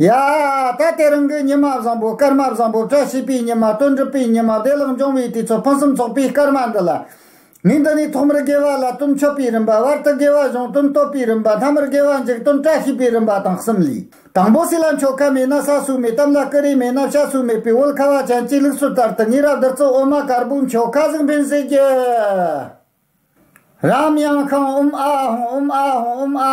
ཡ། ད་ལྟའི་རང་འགུལ་ཉི་མ་བཟང་པོ་སྐར་མ་བཟང་པོ་བཀྲ་ཤིས་པའི་ཉི་མ་སྟོན་གྲུབ་པའི་ཉི་མ་བདེ་བླག་འབྱུང་བའི་དུས་ཚོད་ཕུན་སུམ་ཚོགས་པའི་སྐར་མ་འདི་ལ། ངས་འདི་ནས་ཐོག་མར་དགེ་བ་ལ་སྟོན་མཆོད་པའི་རིམ་པ་བར་དུ་དགེ་བ་གཞུང་སྟོན་བསྟོད་པའི་རིམ་པ་མཐའ་མར་དགེ་བ་འཇིགས་སྟོན་བཀྲ་ཤིས་པའི་རིམ་པ་དང་གསུམ་ལས། དང་པོ་སྲིད་ལ་མཆོད་ཁ་མེད་ན་ས་སུ་མེད་གཏམ་ལ་སྐུ་རེ་མེད་ན་བྱ་སུ་མེད་པའི་དབུལ་ཁ་བ་ཅན་གྱི་ལུགས་སྲོལ་ལྟར་དུ་ངེད་རབ་བསྡུར་གཙོ་བོ་མ་དཀར་པོའི་མཆོད་ཁ་གཟིགས་འབེན་བཟོས་རྒྱུ། རམ་དབྱངས་ཤངས་ཨུམ་ཨ་ཧོང་ཨུམ་ཨ་ཧོང་ཨུམ་ཨ་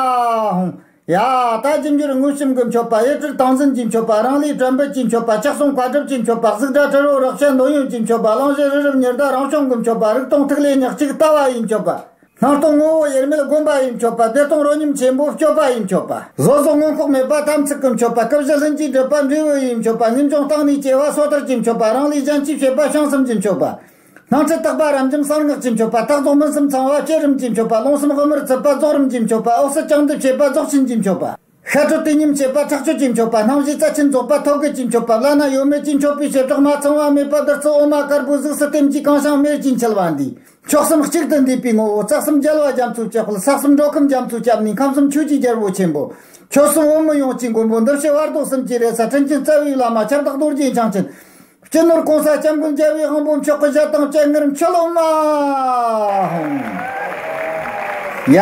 ཧོང། ཡ། ད་ཅི་འགྱུར་དངུལ་ཆུ་མགོའི་མཆོད་པ་གཡུ་ཁྲིར་ཐང་ཟིན་གྱི་མཆོད་པ་རང་ལུས་དྲན་འབུལ་གྱི་མཆོད་པ་ཕྱག་ཟུང་བཀའ་སྒྲུབ་ཀྱི་མཆོད་པ་གཟུགས་སྒྲ་དྲི་རོ་རོག་ཤེས་འདོད་ཡོན་གྱི་མཆོད་པ་གླང་བཞི་རི་རབ་ཉི་ཟླ་རང་བྱུང་གི་མཆོད་པ་རིག་སྟོང་ཐིག་ལེ་ཉག་གཅིག་ལྟ་བ་ཡི་མཆོད་པ། སྣང་སྟོང་ངོ་བོ་དབྱེར་མེད་སྒོམ་པ་ཡི་མཆོད་པ་བདེ་སྟོང་རོ་སྙོམས་ཆེན་པོའི་སྤྱོད་པ་ཡི་མཆོད་པ། བཟོ་བཟོ་མངོན་ལྐོག་མེད་པ་དམ་ཚིག་གི་མཆོད་པ་སྐུ་བཞི་ལྷུན་གྱིས་འགྲུབ་པ་འབྲས་བུ་ཡི་མཆོད་པ་རྣལ་འབྱོར་སྟངས་ནི་སྐྱེ་བ་སོ་ཐར་གྱི་མཆོད་པ་རང་ལུས་སྦྱང་གཅིག་བྱེད་པ་བྱང་གསུམ་གྱི་མཆོད་པ། སྣང་ཁྲི་རྟག་པ་རབ་འབྱམས་གསང་སྔགས་ཀྱི་མཆོད་པ་རྟག་རྫོགས་མུན་སུམ་ཚང་བ་བསྐྱེད་རིམ་གྱི་མཆོད་པ་རླུང་སེམས་དབུ་མར་བཙིར་པ་རྫོགས་རིམ་གྱི་མཆོད་པ་འོག་སེར་རྐྱང་འདེབས་བྱེད་པ་རྫོགས་ཆེན་གྱི་མཆོད་པ། ཤ་ཁྲོ་བསྟི་སྙོམས་བྱེད་པ་ཁྲག་ཆུ་ཀྱི་མཆོད་པ་སྣང་བཞི་རྩ་ཆེན་རྫོགས་པ་ཐོད་རྒལ་གྱི་མཆོད་པ་བླ་ན་ཡོད་མེད་ཀྱི་མཆོད་པའི་བྱེ་བྲག་མ་ཚང་བ་མེད་པ་བདུད་རྩི་འོ་མ་དཀར་པོའི་གཟུགས་སུ་ལྟེམ་གྱི་རྐང་བྱང་མེར་གྱིས་འཁྱིལ་བ་འདིས་མཆོག་གསུམ་གཅིག་ཏུ་འདུས་པའི་ངོ་བོ་རྩ་གསུམ་རྒྱལ་བ་རྒྱ་མཚོའི་སྤྱི་དཔལ་ས་གསུམ་འགྲོ་ཁམས་རྒྱ་མཚོའི་སྐྱབས་གནས་ཁམས་གསུམ་ཆོས་ཀྱི་རྒྱལ་པོ་ཆེན་པོ། ཆོས་སྲུང་བོད་མི་ཡོངས་ཀྱི་མགོན་པོ་འདུ་བྱེད་བར་དོ་གསུམ་གྱི་རེ་ས་ཕྲིན་ཆེན་རྩ་བའི་བླ་མ་ཁྱབ་བདག་རྡོ་རྗེ་འཆང་ཆེན། སྤྱི་ནོར་གོང་ས་སྐྱབས་མགོན་རྒྱལ་བའི་དབང་པོ་མཆོག་གི་བཞད་དང་བཅས་ངེར་མཆོད་ལོ། མ་ཧཱུྃ། ཡ།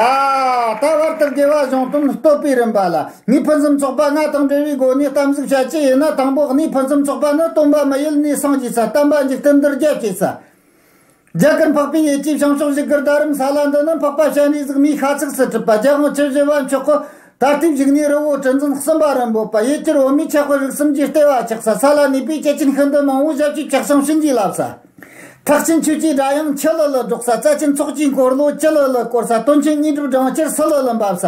ད་བར་དུ་དགེ་བ་གཞུང་དོན་བསྟོད་པའི་རིམ་པ་ལ་ནི་ཕུན་སུམ་ཚོགས་པ་ལྔ་དང་འབྲེལ་བའི་སྒོ་ནས་གཏམ་གཟིགས་བྱ་ཆེད་ཡིན་ན་དང་པོ་གནས་ཕུན་སུམ་ཚོགས་པ་ནི་སྟོན་པ་མི་ཡུལ་ནས་སངས་རྒྱས་སུ་བལྟམས་པ་འཇིག་རྟེན་འདིར་རྒྱལ་སྐྱེས་སུ། རྒྱ་གར་འཕགས་པའི་ཡེ་ཇི་བྱང་ཕྱོགས་བཞི་ཀར་ད་རིམ་ས་ལ་འདི་ནི་འཕགས་པ་ཞལ་ནས་གཟིགས་མོས་ཤ་ཚུགས་སུ་གྲུབ་པ་རྒྱལ་དབང་ཆོས་བཞི་བ་མཆོག་གོ། ད་ལྟའི་བཞུགས་གནས་རི་བོ་དྲི་འཛིན་གསུམ་པ་རིན་པོ་པ་ཡེ་གྱུར་འོ་མའི་ཆགས་པ་རིགས་གསུམ་གྱི་ལྟེ་བ་ཆགས་ས་ས་ལ་གནས་པའི་སྐྱེས་ཆེན་ཤིན་ཏུ་མང་བོ་ཞབས་ཀྱི་བཀྲག་མཆོང་བྱིན་གྱིས་བརླབས་ས། ཐག་ཆེན་ཆོས་ཀྱི་སྒྲ་དབྱངས་ཁྱི་ལི་ལི་སྒྲོག་ས་རྩ་ཆེན་ཚོགས་ཀྱི་འཁོར་ལོ་ཀྱི་ལི་ལི་བསྐོར་ས་སྟོན་ཆེན་གཉིས་གྲུབ་སྦྲང་ཆར་སི་ལི་ལི་འབབ་ས།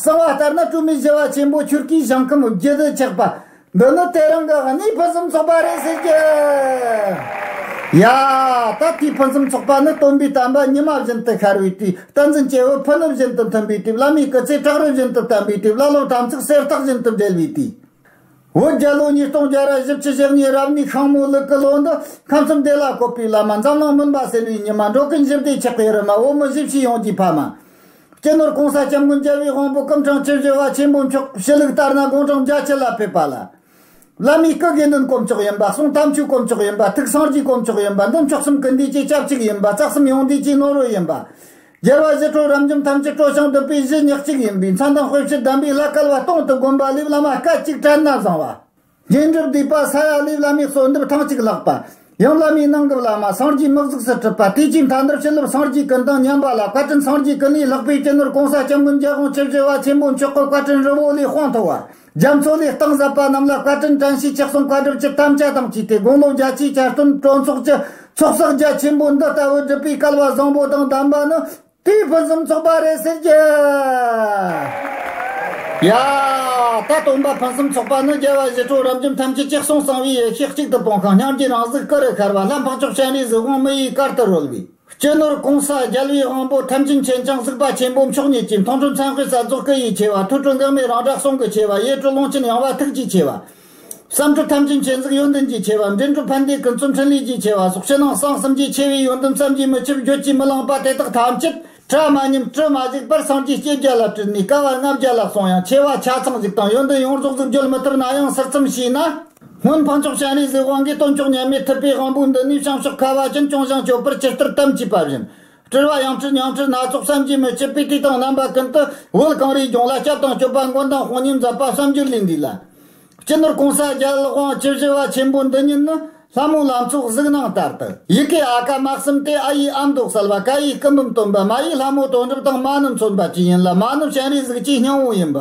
གསང་བ་ལྟར་ན་བཀྲུ་མི་བྱེ་བ་ཆེན་པོ་ཁྱུར་ཁྱིའི་བཞེངས་ཁམས་རྒྱུད་སྡེ་ཆགས་པ། འདི་ནི་དེ་རིང་གི་གནས་ཕུན་སུམ་ཚོགས་པ་རེད་ཟེར་གྱི། ཡ། ད་ལྟའི་ཕུན་སུམ་ཚོགས་པ་ནི་སྟོན་པའི་དམ་པ་ཉི་མ་བཞིན་དུ་ཤར་བའི་དུས་བསྟན་འཛིན་སྐྱེ་བོའི་ཕུ་ནུ་བཞིན་དུ་མཐུན་པའི་དུས་བླ་མའི་སྐུ་ཚེ་བྲག་རི་བཞིན་དུ་བརྟན་པའི་དུས་བླ་སློབ་དམ་ཚིག་གསེར་ཐག་བཞིན་དུ་འབྲེལ་བའི་དུས། བོད་རྒྱལ་ལོ་ཉིས་སྟོང་བརྒྱད་རེ་བཞི་བཅུ་ཞེ་གཉིས་རབ་གནས་ཤངས་མོ་ལུག་གི་ལོ་འདི་ཁམས་གསུམ་བདེ་ལ་བཀོད་པའི་བླ་མ་འཛམ་གླིང་མུན་པ་སེལ་བའི་ཉི་མ་འགྲོ་ཀུན་ཞི་བདེའི་ཆགས་པའི་རི་མ་འོག་མི་བཞི་བཞི་ཡོངས་ཀྱི་ཕ་མ། སྤྱི་ནོར་གོང་ས་སྐྱབས་མགོན་རྒྱལ་བའི་དབང་པོ་སྐུ་འཕྲེང་སྤྱི་བཞེས་བ་ཆེན་པོ་མཆོག་གི་ཞུ་ལུགས་ལྟར་ན་དགུང་གྲངས་བརྒྱ་བྱིན་ལ་ཕེབས་པ་ལ། བླ་མའི་སྐུ་དགེ་འདུན་དཀོན་མཆོག་ཡིན་པ་གསུང་དམ་ཆོས་དཀོན་མཆོག་ཡིན་པ་ཐུགས་སངས་རྒྱས་དཀོན་མཆོག་ཡིན་པ་འདུལ་མཆོག་གསུམ་གུ་འདུས་སྤྱི་ཁྱབ་གཅིག་ཡིན་པ་རྩ་གསུམ་ཡོངས་འདུས་སྤྱི་ནོར་ཡིན་པ། རྒྱལ་བ་བཞི་ཁྲོ་རབ་འབྱམས་ཐམས་ཅད་སྤྲོ་ཞིང་བསྡུ་པའི་གཞི་ཉག་གཅིག་ཡིན་པའི་མཚན་དང་དཔེ་བྱད་གདམས་པའི་བླ་སྐལ་བ་སྟོང་དུ་བསྒོམ་པ་ལས་བླ་མ་སྐད་ཅིག་དྲན་ན་བཟང་བ། རྗེས་འཇུག་བསྡུས་པ་ས་ཡ་ལེའི་བླ་མའི་གསོལ་འདེབས་ཐེངས་གཅིག་བཀླགས་པ། ཡང་བླ་མའི་གནང་སྐབས་བླ་མ་སངས་རྒྱས་དམག་བཙུགས་སུ་ཁྲིད་པ་དེ་ཕྱིའི་མཐའ་འདིར་ཕྱི་ལུགས་སངས་རྒྱས་ཀུན་དང་མཉམ་པ་ལ་བཀའ་དྲིན་སངས་རྒྱས་ཀུན་ལས་ལྷག་པའི་སྤྱི་ནོར་གོང་ས་སྐྱབས་མགོན་རྒྱལ་དབང་ཆོས་རྗེ་བ་ཆེན་པོ་མཆོག་གི་བཀའ་དྲིན་རི་བོ་ལས་དཔངས་མཐོ་བ། རྒྱ་མཚོ་ལས་སྟེང་ཟབ་པ་རྣམས་ལ་བཀའ་དྲིན་དྲན་ཤེས་ཆགས་གསུམ་བཀའ་སྒྲུབ་ཀྱི་དམ་བཅའ་དང་བཅས་ཏེ་དགུང་ལོ་བརྒྱ་ཆའི་བསྐྱར་སྟོན་གྲོས་ཚོགས་ཀྱི་ཚོགས་བསགས་རྒྱ་ཆེན་པོ་འདི་ལྟ་བུ་བསྒྲུབས་པའི་སྐལ་བ་བཟང་པོ་དང་ལྡན་པ་ནི། དེའི་ཕུན་སུམ་ཚོགས་པ་རེད་ཟེར་གྱི། ཡ། ད་སྟོན་པ་ཕུན་སུམ་ཚོགས་པ་ནི་རྒྱལ་བ་བཞི་ཁྲོ་རབ་འབྱམས་ཐམས་ཅད་གཅིག་གསུང་གསང་བའི་ཡེ་ཤེས་གཅིག་ཏུ་སྤོང་ཤིང་ཉམས་ཀྱི་རང་གཟུགས་སྐུ་རུ་ཤར་བ་ལྷ་འཕགས་མཆོག་སྤྱན་རས་གཟིགས་དབང་མི་ཡི་གར་དུ་རོལ་བའི། སྤྱི་ནོར་གོང་ས་རྒྱལ་བའི་དབང་པོ་ཐམས་ཅད་མཁྱེན་བྱང་གཟིགས་པ་ཆེན་པོ་མཆོག་ཉིད་ཀྱི་མཐོང་གྲོལ་མཚན་དཔེ་གསལ་རྫོགས་སྐུ་ཡི་ཆེ་བ་ཐུགས་སྤྲུལ་འགག་མེད་རང་གྲགས་གསུང་གི་ཆེ་བ་ཡེ་གྲོལ་ཀློང་ཆེན་ཡངས་པ་ཐུགས་ཀྱི་ཆེ་བ། བསམ་གྲུབ་ཐམས་ཅད་མཁྱེན་གཟིགས་ཡོན་ཏན་གྱིས་ཆེ་བ་འབྲིང་གྲུབ་ཕན་བདེའི་ཀུན་རྫོབ་འཕྲིན་ལས་ཀྱིས་ཆེ་བ་སོགས་ཕྱི་ནང་གསང་གསུམ་གྱི་ཆེ་བའི་ཡོན་ཏན་བསམ་གྱིས་མི་ཁྱབ་བརྗོད་ཀྱིས་མི་ལངས་པ་དེ་དག་ཐམས་ཅད་ཕྲ་མ་ཉིམ་གྲུ་མ་གཟིགས་པར་སངས་རྒྱས་བསྐྱེད་རྒྱ་ལ་སྤྲུལ་ནས་སྐལ་བ་ལྔ་བརྒྱ་ལ་སོང་ཡང་ཆེ་བ་ཆ་ཚང་གཟིགས་དང་ཡོན་ཏན་ཡོངས་རྫོགས་གཟིགས་བརྗོད་མི་ཐུབ་ན་ཡང་ཟུར་ཙམ་ཞིག་ན། སྔོན་འཕགས་མཆོག་སྤྱན་རས་གཟིགས་དབང་གིས་སྟོན་མཆོག་ཉམས་མེད་ཐུབ་པའི་དབང་པོ་འདི་ནི་བྱང་ཕྱོགས་ཁ་བ་ཅན་སྐྱོང་བཞེངས་སྤྱོད་པར་སྤྱི་ལྟར་གཏམ་བྱས་པ་བཞིན། སྤྲུལ་བ་ཡང་སྤྲུལ་ཉང་སྤྲུལ་སྣ་ཚོགས་བསམ་གྱིས་མི་ཁྱབ་པའི་བཀྲིས་དང་རྣམ་པ་ཀུན་ཏུ་དབུལ་གངས་རིའི་ལྗོངས་ལ་སྐྱབས་དང་སྤྱོད་པ་མགོན་དང་དཔུང་ཉམས་ཟབ་པ་བསམ་རྒྱུར་ལུས་འདུས་ལ། སྤྱི་ནོར་གོང་ས་རྒྱལ་དབང་བཅུ་བཞི་བ་ཆེན་པོ་འདི་ཉིད་ནི་ལྷ་མོའི་ལམ་ཚོགས་གཟིགས་སྣང་ལྟར་དུ། ཡི་གེ་ཨ་ཀ་དམག་གསུམ་སྟེ་ཨ་ཡིག་ཨམ་མདོག་གསལ་བ་ཀ་ཡིག་སྐུ་འབུམ་སྟོན་པ་མ་ཡིག་ལྷ་མོ་དོན་གྲུབ་དང་མ་ནུབ་མཚོན་པ་བཅས་ཡིན་ལ་མ་ནུབ་སྤྱན་རས་གཟིགས་ཀྱི་སྙིང་བོ་ཡིན་པ།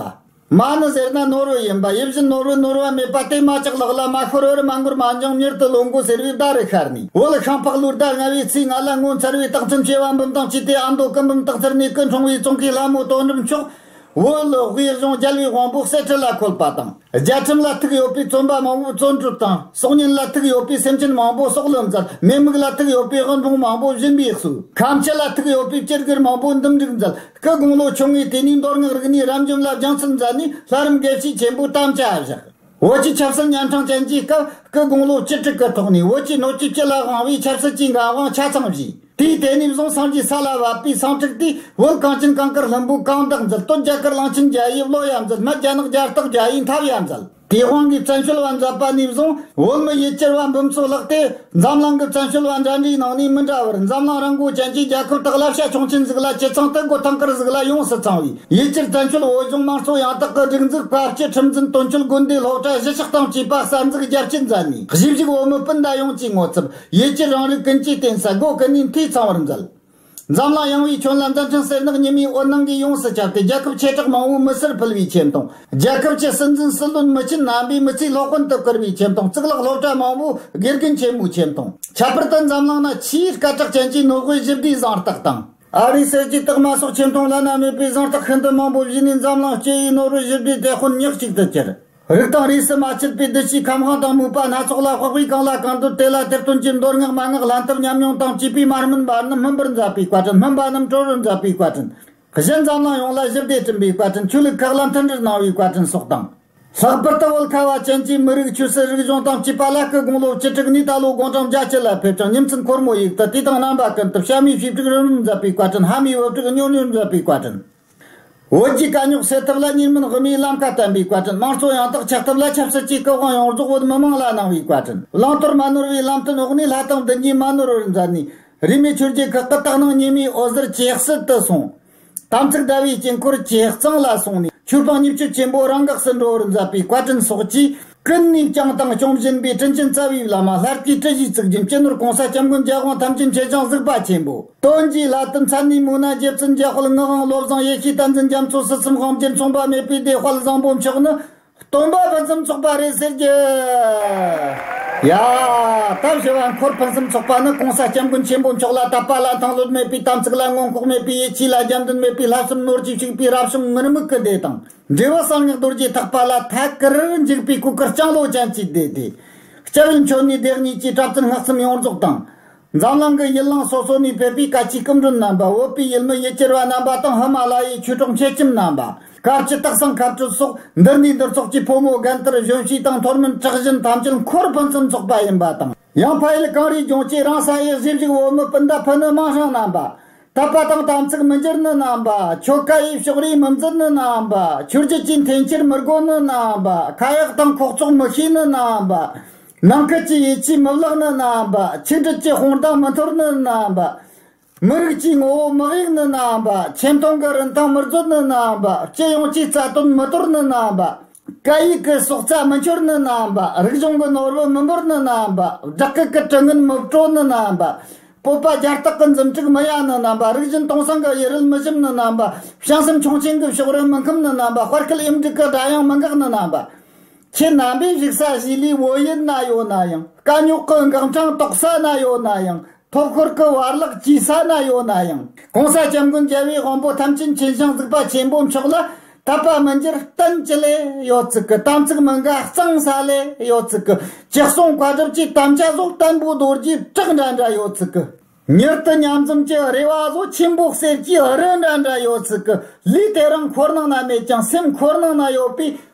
མ་ནི་ཟེར་ན་ནོར་བུ་ཡིན་པ་ཡིད་བཞིན་ནོར་བུའི་ནོར་བ་མེད་པ་སྟེ་མ་ཅིག་ལག་ལ་མ་ཤོར་བར་མ་འགོར་མ་འབྱུང་མྱུར་དུ་ལོ་འགོ་ཟེར་བའི་བརྡ་རུ་ཤར་ནས་འོད་ཤིང་ཕག་ལུ་བརྡ་ལྔ་བའི་ཚིག་ལྔ་ལ་ངོ་མཚར་བའི་རྟགས་མཚོན་བྱེད་བ་འབུམ་དང་བཅས་ཏེ་ཨ་མདོ་སྐུ་འབུམ་སྟག་རྩེར་གནས་ཀུན་འཁྲུངས་བའི་ཙོང་ཁའི་ལྷ་མོ་དོ་འགྲམ་ཕྱོགས་བོད་ལུགས་དབུས་གཞུང་རྒྱལ་བའི་དབང་པོ་གསེར་ཁྲི་ལ་འཁོད་པ་དང་རྒྱལ་ཁྲིམས་ལ་ཐུག་ཡོད་པའི་བཙོན་པ་མང་པོའི་བཙོན་གྲུབ་དང་སྲོག་ཉེན་ལ་ཐུག་ཡོད་པའི་སེམས་ཅན་མང་པོའི་སྲོག་ལོ་མཛད་མེད་མུག་ལ་ཐུག་ཡོད་པའི་དབུལ་ཕོངས་མང་པོའི་གཞུན་པའི་གསོས་ཁམས་སྤྱི་ལ་ཐུག་ཡོད་པའི་སྤྱིར་གུར་མང་པོའི་འདུམ་འགྲིག་མཛད། སྐུ་དགུང་ལོ་ཆུང་བའི་དུས་ནས་མདོ་སྔགས་རིག་གནས་རབ་འབྱམས་ལ་སྦྱངས་ཚུལ་མཛད་ནས་ལྷ་རམས་དགེ་བཤེས་ཆེན་པོའི་གཏམ་བྱ་བཞག། བོད་ཀྱི་ཆབ་སྲིད་གཉན་འཕྲང་ཅན་གྱི་སྐབས་སྐུ་དགུང་ལོ་བཅུ་དྲུག་གི་ཐོག་ནས་བོད་ཀྱི་སྣོད་བཅུད་སྤྱི་ལ་དབང་བའི་ཆབ་སྲིད་ཀྱི་འགན་དབང་ཆ་ཚང་བཞེས། དུས་དེ་ནས་བཟུང་སངས་རྒྱས་ས་ལ་བབས་པའི་སངས་ཁྲག་དུས་བོད་གངས་ཅན་གངས་དཀར་ལྷུན་པོའི་གངས་བདག་མཛད་སྟོད་རྒྱ་གར་གླང་ཆེན་རྒྱལ་དབྱིབས་བློ་ཡབ་མཛད་སྨད་རྒྱ་ནག་རྒྱལ་རྟགས་རྒྱ་ཡིས་འཐབ་ཡབ་མཛད། དེའི་དབང་གིས་བཙན་བྱོལ་བ་མཛད་པ་ནས་བཟུང་བོད་མི་ཡུལ་གྱར་བ་འབུམ་ཚོ་ལགས་ཏེ་འཛམ་གླིང་གི་བཙན་བྱོལ་བ་འདྲ་འདྲའི་ནང་ནས་མི་འདྲ་བར་འཛམ་གླིང་རང་འགུལ་ཅན་གྱི་རྒྱལ་ཁབ་དག་ལ་བྱ་ཁྱུང་ཆེན་གཟིགས་ལ་སྤྱི་ཚང་དུ་སྒོ་ཐང་དཀར་གཟིགས་ལ་ཡོངས་སུ་ཚང་བའི་ཡུལ་གྱར་བཙན་བྱོལ་བོད་གཞུང་དམངས་གཙོ་ཡང་དག་གི་སྒྲིག་འཛུགས་པ་སྤྱི་ཁྲིམས་འཛིན་དོན་ཆོས་དགོན་སྡེའི་སློབ་གྲྭ་བཞི་ཆགས་སྟངས་བཅས་པ་གསར་འཛུགས་རྒྱ་བསྐྱེད་མཛད་ནས་གཞིས་བཞུགས་བོད་མི་སྤུན་ཟླ་ཡོངས་ཀྱི་ངོ་ཚབ་ཡུལ་གྱར་རང་རིགས་ཀུན་གྱི་བརྟེན་ས་སྒོ་ཀུན་ནས་འཐུས་ཚང་བར་མཛད། འཛམ་གླིང་ཡངས་བའི་ཁྱོན་ལ་མཛའ་མཐུན་སེར་ནག་གཉིས་མིའི་དབུ་སྣང་གིས་ཡོངས་སུ་ཁྱབ་སྟེ་རྒྱལ་ཁབ་ཆེ་གྲགས་མང་བོའི་མི་སེར་ཕུལ་བའི་ཁྱིམ་དང། རྒྱལ་ཁབ་ཀྱི་སྲིད་འཛིན་སྲིད་བློན་མི་སྤྱི་རྣམ་པའི་མི་ཚེའི་སློབ་དཔོན་དུ་བཀུར་བའི་ཁྱིམ་དང་གཙུག་ལག་སློབ་གྲྭ་མང་བོའི་དགེ་རྒན་ཆེན་མོའི་ཁྱིམ་དང། ཁྱད་པར་དུ་འཛམ་གླིང་ན་ཆེས་སྐད་གྲགས་ཅན་གྱི་ནོར་དབུས་བཞི་བདེའི་གཟེངས་རྟགས་དང། ཨ་རིའི་སྲིད་ཀྱི་རྟགས་མ་སོགས་ཁྱིམ་དང་བླ་ན་མེད་པའི་གཟེངས་རྟགས་ཤིན་ཏུ་མང་བོ་བཞེས་ནས་འཛམ་གླིང་སྤྱི་ཡི་ནོར་དབུས་བཞི་བདེའི་དེད་དཔོན་ཉག་གཅིག་ཏུ་གྱུར། རིགས་དང་རིས་སུ་མ་ཆད་པའི་བདུད་བཞིའི་ཁམས་དབང་དང་དམིགས་པ་སྣ་ཚོགས་ལ་དཔག་པས་གང་ལ་གང་འདོད་དེ་ལ་དེར་སྟོན་ཅིང་མདོར་བསྔགས་མ་བསྔགས་ལྷ་འཐབ་ཉམས་མྱོང་དང་བཅས་པའི་མ་སྨིན་པ་རྣམས་སྨིན་པར་མཛད་པའི་བཀའ་དྲིན་སྨིན་པ་རྣམས་གྲོལ་བར་མཛད་པའི་བཀའ་དྲིན། བཞི་འཛམ་གླིང་ཡོངས་ལ་བཞི་བདེ་སྐྲུན་པའི་བཀའ་དྲིན་ཆོས་ལུགས་ཁག་ལ་མཐུན་སྒྲིལ་གནང་བའི་བཀའ་དྲིན་སོགས་དང། ལྷག་པར་དུ་བོད་ཁ་བ་ཅན་གྱི་མི་རིགས་ཆོས་སྲིད་རིག་གཞུང་དང་བཅས་པ་ལ་སྐུ་དགུང་ལོ་བཅུ་དྲུག་ནས་ད་ལོ་དགུང་གྲངས་བརྒྱ་ཕྱེད་ལ་ཕེབས་ཀྱང་ཉིན་མཚན་འཁོར་མོ་ཡིག་ཏུ་དུས་དང་རྣམ་པ་ཀུན་ཏུ་གཤའ་མའི་ཞིབ་འཇུག་རོལ་མོར་མཛད་པའི་བཀའ་དྲིན་ཧ་མའི་དབུ་སྐྲུགས་སྨྱོ་ནུས་མཛད་པའི་བཀའ་དྲིན། བོད་ཀྱི་དཀའ་རྙོག་སེལ་ཐབས་ལ་གཉིས་མིན་དབུ་མའི་བླང་བྱ་བསྟན་པའི་བཀའ་དྲིན་དམངས་གཙོ་ཡང་དག་ཆགས་ཐབས་ལ་ཆབ་སྲིད་ཀྱི་སྐུ་དབང་ཡོངས་རྫོགས་བོད་མི་དམངས་ལ་གནང་བའི་བཀའ་དྲིན་བླང་དོར་མ་ནོར་བའི་ལམ་སྟོན་འོག་ནས་ལྷ་དང་བདུད་གཉིས་མ་ནོར་བར་མཛད་ནས་རིས་མེད་ཆོས་རྒྱལ་ཁག་གི་དག་སྣང་ཉི་མའི་འོད་ཟེར་གྱེས་བསིལ་དུ་སོང། དམ་ཚིག་དགྲ་བོའི་དཀྱིལ་འཁོར་བྱེ་གཙང་ལ་སོང་ནས་ཆོས་དཔང་མཉེས་སྤྱོད་ཆེན་པོ་རང་འགགས་སུ་འགྲོ་བར་མཛད་པའི་བཀའ་དྲིན་སོགས་ཀྱིས། ཀུན་ནས་བསྐྱངས་བཏང་སྐྱོང་བཞིན་པའི་སྤྲིན་ཆེན་རྩ་བའི་བླ་མ་ལྷར་བསྐྱེད་ཏྲི་བཞིའི་ཚིག་རྒྱུན་གཅེས་ནོར་གོང་ས་སྐྱབས་མགོན་རྒྱལ་དབང་ཐམས་ཅད་མཁྱེན་བྱང་གཟིགས་པ་ཆེན་པོ་དོན་གྱི་ལྷ་དུ་མཚན་ནས་མོ་ན་རྗེ་བཙུན་རྒྱལ་དཔལ་དངུལ་དབང་བློ་བཟང་ཡེ་ཤེས་བསྟན་འཛིན་རྒྱ་མཚོ་སྲིད་གསུམ་དབང་བརྒྱུད་མཚུངས་པ་མེད་པའི་བདེ་དཔལ་བཟང་པོ་མཆོག་ནི། སྟོན་པ་ཕུན་སུམ་ཚོགས་པ་རེད་ཟེར་གྱི། ཡ། སྟབས་བྱེ་བ་འཁོར་ཕུན་སུམ་ཚོགས་པ་ནི་གོང་ས་སྐྱབས་མགོན་ཆེན་པོ་མཆོག་ལ་བཏབ་པ་ལ་མཐང་ལྷོད་མེད་པའི་དམ་ཚིག་ལ་མངོན་ལྐོག་མེད་པའི་ཡིད་ཆེས་ལ་རྒྱབ་མདུན་མེད་པའི་ལྷ་གསུམ་ནོར་གྱིས་བྱུགས་པའི་རབ་བྱུང་ངུར་སྨུག་གི་སྡེ་དང། འབྲེལ་བ་གསང་སྙིང་རྡོ་རྗེ་ཐག་པ་ལ་ཐད་ཀར་འཇུག་པའི་སྐུ་སྐུར་ལྕང་ལོ་ཅན་གྱིས་བཟླས་ཏེ། སྤྱི་བོའི་མཆོད་ནས་བདག་ཉིད་ཀྱི་པྲ་ཚིལ་སྔགས་གསུམ་ཡོངས་རྫོགས་དང། འཛམ་གླིང་གི་ཡུལ་གླིང་སོ་སོ་ནས་བོད་པའི་བཀའ་སྤྱིའི་སྐུ་མགྲོན་རྣམ་པ་བོད་པའི་ཡུལ་མི་ཡུལ་གྱར་བ་རྣམ་པ་དང་ཧི་མ་ལ་ཡའི་ཆོས་གྲོགས་མཁས་ཁྱིམ་རྣམ་པ། སྐབས་ཀྱི་རྟགས་བཟང་མཁའ་འགྲུལ་སོགས་འདིར་འདུས་འདིར་འཚོགས་ཀྱི་ཕོ་མོ་རྒན་དར་གཞོན་བྱིས་དང་མཐོར་མིན་གྲགས་གཞན་ཐམས་ཅད་འཁོར་ཕུན་སུམ་ཚོགས་པ་ཡིན་པ་དང། ཡང་ཕ་ཡུལ་གངས་རིའི་ལྗོངས་ཀྱི་རང་ས་ཡེ་གཟིགས་རིགས་བོད་མི་སྤུན་ཟླ་ཕུ་ནུ་དམངས་ཞང་རྣམ་པ། དག་པ་དང་དམ་ཚིག་མི་འགྱུར་ནི་རྣམ་པ། ཆོ་ག་ཡི་ཕྱོགས་རིས་མི་འཛིན་ནི་རྣམ་པ། ཆོས་བརྒྱུད་ཀྱི་འཐེན་འཁྱེར་མི་དགོས་ནི་རྣམ་པ། ཁ་ཡག་དང་ཁོག་བཙོག་མི་ཤེས་ནི་རྣམ་པ། ནང་ཁུལ་གྱི་ཡིད་ཆེས་མི་བརླག་ནི་རྣམ་པ། ཆིག་སྒྲིལ་གྱི་དཔུང་རྡང་མི་འཐོར་ནི་རྣམ་པ། མི་རིགས་ཀྱི་ངོ་བོ་མི་གཡུག་ནི་རྣམ་པ། ཆེ་མཐོང་གི་རིན་ཐང་མི་རྫོགས་ནི་རྣམ་པ། སྤྱི་ཡོངས་ཀྱི་རྩ་དོན་མི་དོར་ནི་རྣམ་པ། བཀའ་ཡིག་གི་སྲོག་རྩ་མི་འཆོར་ནི་ནའམ་པ། རིག་གཞུང་གི་ནོར་བུ་མི་འབོར་ནི་ནའམ་པ། བསྒྲགས་སྐུལ་གྱི་དྲི་ངན་མི་བཀྲོལ་ནི་ནའམ་པ། སྤོབས་པ་རྒྱ་སྟག་གི་འཛུམ་དཀྲུགས་མི་གཡར་ནི་ནའམ་པ། རིག་གཞུང་སྟོང་སངས་ཀྱི་ཡུལ་རོལ་མི་ཞིམ་ནི་ནའམ་པ། བྱང་སེམས་ཁྱུང་ཆེན་གྱི་ཕྱོགས་རོལ་མི་འཁུམས་ནི་ནའམ་པ། དཔར་སྐུད་གཡུ་འབྲུག་གི་སྒྲ་དབྱངས་མི་འགག་ནི་ནའམ་པ། ཁྱེད་རྣམ་པས་བཞུགས་ས་གཞིས་ལུས་བོད་ཡུལ་ན་ཡོད་ན་ཡང། དཀའ་རྙོག་གི་འགག་འཕྲང་དོག་ས་ན་ཡོད་ན་ཡང། ཐོག་འཁོར་གྱི་བར་གླགས་ཀྱི་ས་ན་ཡོད་ན་ཡང་གོང་ས་སྐྱབས་མགོན་རྒྱལ་བའི་དབང་པོ་ཐམས་ཅད་མཁྱེན་ཞིང་གཟིགས་པ་ཆེན་པོ་མཆོག་ལ་དད་པ་མི་འགྱུར་བསྟན་ཅི་ལས་ཡོད་ཚིག་གི་དམ་ཚིག་མི་འགའ་གཙང་ས་ལས་ཡོད་ཚིག་གི་ཅི་གསུང་བཀའ་སྒྲུབ་ཀྱི་དམ་བཅའ་སོགས་བརྟན་པོ་རྡོ་རྗེ་བྲག་འདྲ་འདྲ་ཡོད་ཚིག་གི། མྱུར་དུ་མཉམ་འཛོམས་ཀྱི་རེ་བ་བཟོ་ཆེན་པོ་གསེར་གྱི་རི་འདྲ་འདྲ་ཡོད་ཚིག་གི་ལུས་དེ་རང་འཁོར་ནང་ན་མེད་ཀྱང་སེམས་འཁོར་ནང་ན་ཡོད་པས་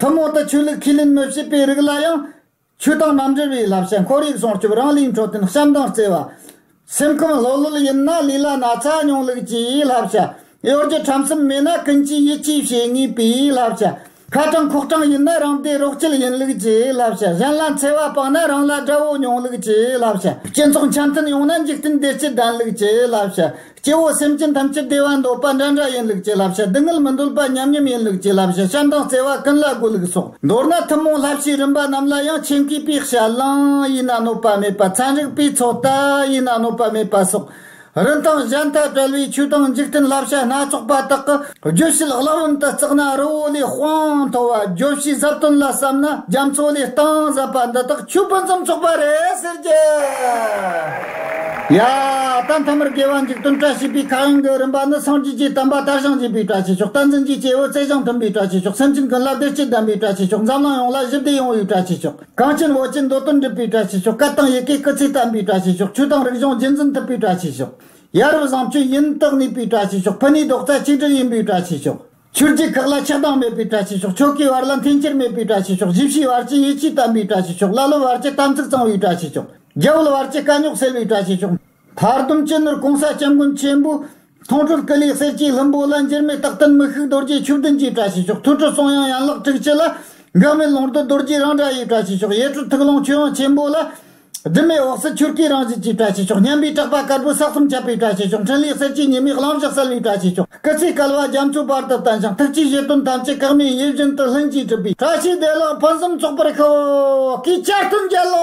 ཐུན་མོང་དུ་ཆོས་ལུགས་ཁས་ལེན་མི་བྱེད་པའི་རིགས་ལ་ཡང། ཆོས་དང་རྣམ་འགྲེལ་བའི་བསླབ་བྱ་འཁོར་ཡུག་སྲུང་སྐྱོབ་རང་གླིང་འཕྲོད་བསྟེན་བྱམས་སྡང་བརྩེ་བ། སེམས་ཁམས་ལྷོད་ལྷོད་ཡིན་ན་ལུས་ལ་ན་ཚ་སྙོང་ལུགས་ཀྱི་བསླབ་བྱ། གཡོ་སྒྱུ་ཁྲམ་གསུམ་མེད་ན་ཀུན་གྱིས་ཡིད་ཆེས་བྱེད་ངེས་པའི་བསླབ་བྱ། ཁ་གྲངས་ཁོག་གྲངས་ཡིན་ན་རང་བདེ་རོགས་སྐྱིད་ཡིན་ལུགས་ཀྱི་བསླབ་བྱ་གཞན་ལ་འཚེ་བ་སྤངས་ན་རང་ལ་དགྲ་བོ་སྙོང་ལུགས་ཀྱི་བསླབ་བྱ་སྤྱི་ཚོགས་འཆམ་མཐུན་ཡོང་ན་འཇིག་རྟེན་བདེ་སྐྱིད་ལྡན་ལུགས་ཀྱི་བསླབ་བྱ་སྐྱེ་བོ་སེམས་ཅན་ཐམས་ཅད་བདེ་བ་འདོད་པ་འདྲ་འདྲ་ཡིན་ལུགས་ཀྱི་བསླབ་བྱ་སྡུག་བསྔལ་མི་འདོད་པ་མཉམ་མཉམ་ཡིན་ལུགས་ཀྱི་བསླབ་བྱ་ཤ་མདངས་བརྩེ་བ་ཀུན་ལ་དགོས་ལུགས་སོགས་མདོར་ན་ཐུན་མོང་བསླབ་བྱའི་རིམ་པ་རྣམས་ལ་ཡང་ཆེན་གུས་པས་བྱ། གླིང་ཡིན་ན་གནོད་པ་མེད་པ་ཚན་རིག་པའི་ཚོགས་ལྟ་ཡིན་ན་གནོད་པ་མེད་པ་སོགས། རིན་ཐང་གཞན་དག་བྲལ་བའི་ཆོས་དང་འཇིག་རྟེན་བསླབ་བྱ་སྣ་ཚོགས་པ་དག་གི། བརྗོད་གཞི་ལག་ལམ་དུ་བརྩགས་ན་རི་བོ་ལས་དཔངས་མཐོ་བ་བརྗོད་གཞིའི་གཟབ་སྟོན་ལ་བསམ་ན་རྒྱ་མཚོ་ལས་སྟངས་ཟབ་པ་འདི་དག་ཆུ་སྤུན་ཙམ་ཚོགས་པ་རེད་ཟེར་གྱི། ཡ། ད་མཐའ་མར་དགེ་བ་འཇིག་རྟེན་བཀྲ་ཤིས་པའི་ཁ་དབྱངས་ཀྱི་རིམ་པ་ནི་སངས་རྒྱས་ཀྱི་དམ་པ་དར་ཞིང་རྒྱས་པའི་བཀྲ་ཤིས་ཤོག་རྟ་འཛིན་གྱི་སྐྱེ་བོའི་རྩལ་ཞིང་མཐུན་པའི་བཀྲ་ཤིས་ཤོག་སེམས་ཅན་ཀུན་ལ་བདེ་སྐྱིད་ལྡན་པའི་བཀྲ་ཤིས་ཤོག་འཛམ་གླིང་ཡོངས་ལ་ཞི་བདེ་ཡོང་བའི་བཀྲ་ཤིས་ཤོག་གངས་ཅན་བོད་ཀྱི་འདོད་དོན་འགྲུབ་པའི་བཀྲ་ཤིས་ཤོག་སྐད་དང་ཡི་གེའི་སྐུ་ཚེ་བརྟན་པའི་བཀྲ་ཤིས་ཤོག་ཆོས་དང་རིག་གཞུང་རྒྱུན་འཛིན་ཐུབ་པའི་བཀྲ་ཤིས་ཤོག། ཡ་རབས་བཟང་སྤྱོད་ཡིན་རྟོགས་ནུས་པའི་བཀྲ་ཤིས་ཤོག་ཕུ་ནུའི་རྡོག་རྩ་གཅིག་སྒྲིལ་ཡིན་པའི་བཀྲ་ཤིས་ཤོག་ཆུ་རྒྱུད་ཁག་ལ་ཆགས་སྡང་མེད་པའི་བཀྲ་ཤིས་ཤོག་ཕྱོགས་ཀའི་བར་ལ་འཐེན་འཁྱེར་མེད་པའི་བཀྲ་ཤིས་ཤོག་བཞི་བཞིའི་བར་གྱི་ཡིད་ཆེས་དམ་པའི་བཀྲ་ཤིས་ཤོག་ཀླ་ཀློའི་བར་གྱི་དམ་ཚིག་གཙང་བའི་བཀྲ་ཤིས་ཤོག་རྒྱལ་བོའི་བར་གྱི་དཀའ་རྙོག་སེལ་བའི་བཀྲ་ཤིས་ཤོག། མཐར་དུམ་སྐྱེ་ནོར་གོང་ས་སྐྱབས་མགོན་ཆེན་པོའི། མཐོང་གྲོལ་སྐུ་ལས་གསེར་སྐྱའི་ལྷུན་པོ་ལ། འགྱུར་མེད་རྟག་བརྟན་མི་ཤུགས་རྡོ་རྗེའི་ཆུ་བདུན་གྱི་བཀྲ་ཤིས་ཤོག་ཐུགས་ཁྲོ་གསུང་དབྱངས་ཡན་ལག་དྲུག་སྤྱི་ལ། འགག་མེད་ལུང་རྡོ་རྡོ་རྗེའི་རང་སྒྲ་ཡི་བཀྲ་ཤིས་ཤོག་ཡེ་གྲོལ་ཐུགས་ཀློང་ཆོས་དབྱིངས་ཆེན་པོ་ལ། སྒྲིབ་མེད་འོག་སྲིད་ཆུ་སྐྱེས་རང་བཞིན་གྱི་བཀྲ་ཤིས་ཤོག་སྙམ་པའི་སྐྲག་པ་དཀར་པོའི་ས་གསུམ་ཁྱབ་པའི་བཀྲ་ཤིས་ཤོག་འཕྲིན་ལས་གསེར་གྱི་ཉི་མའི་གླང་བཞག་གསལ་བའི་བཀྲ་ཤིས་ཤོག་སྐུ་ཚེ་སྐལ་བ་རྒྱ་མཚོའི་བར་དུ་བརྟན་ཞིང་ཐུགས་ཀྱི་བཞེད་དོན་ཐམས་ཅད་ཀག་མའི་ཡིད་བཞིན་དུ་ལྷུན་གྱིས་གྲུབ་པའི་བཀྲ་ཤིས་བདེ་བླག་ཕུན་སུམ་ཚོགས་པར་ཤོག་གིས་བསྐྱར་སྟོན་རྒྱལ་ལོ།